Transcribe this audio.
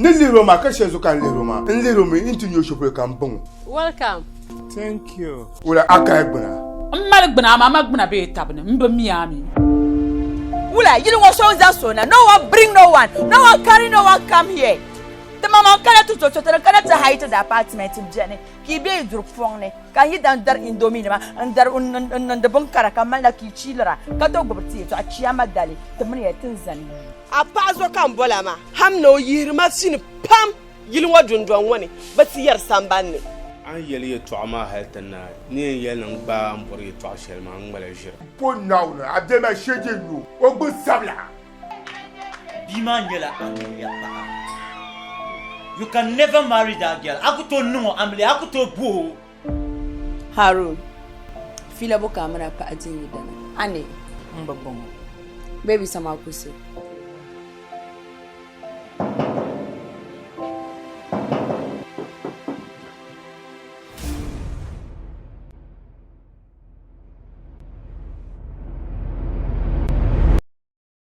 Ni lihiri o maa ka shɛli zuɣu ka n lihiri o maa n lihiri o mi n ti nyɛ shɛpolo ka n baŋ o. Welcome. Thank you. Wula a kaya gbina. M mali gbina amaa ma gbina bee tabi ni m bi mi a mi. Wula yili ŋɔ so n za so na no one bring no one no one carry no one come here. Ti ma man kana ti to so ti ni kana ti hire ti da apartment beni Ka yi be yi duri pɔŋ ni, ka n yi daa dari indominima n-dari n-niŋdi binkara ka malila ka yi chiilira, ka do gbubi ti yɛtɔɣa Chiyaama dali, ti mini ya tin zani yi. A paɣa zo ka n bol a maa, ham ni o yihiri ma fini pam yili ŋɔ dundɔŋ ŋɔ ni bɛ ti yɛri samban ni. A ni yɛli yɛtɔɣa maa hal ti naai, ni yɛn yɛli ni n gbaai a ni bɔri yɛtɔɣa shɛli maa, n ŋmala ʒiri. Pɔ Naawuni, a bemi a shee je n-nyu o gbinsabila. Bia maa nyɛla amiliya paɣa. You can never marry that girl. A ku tooi niŋ o amiliya, a ku tooi bo o. Harun, fila bo ka a mini a paɣa di n-yi dana? A ni? N bi bɔŋɔ. Baby sa maa ku so.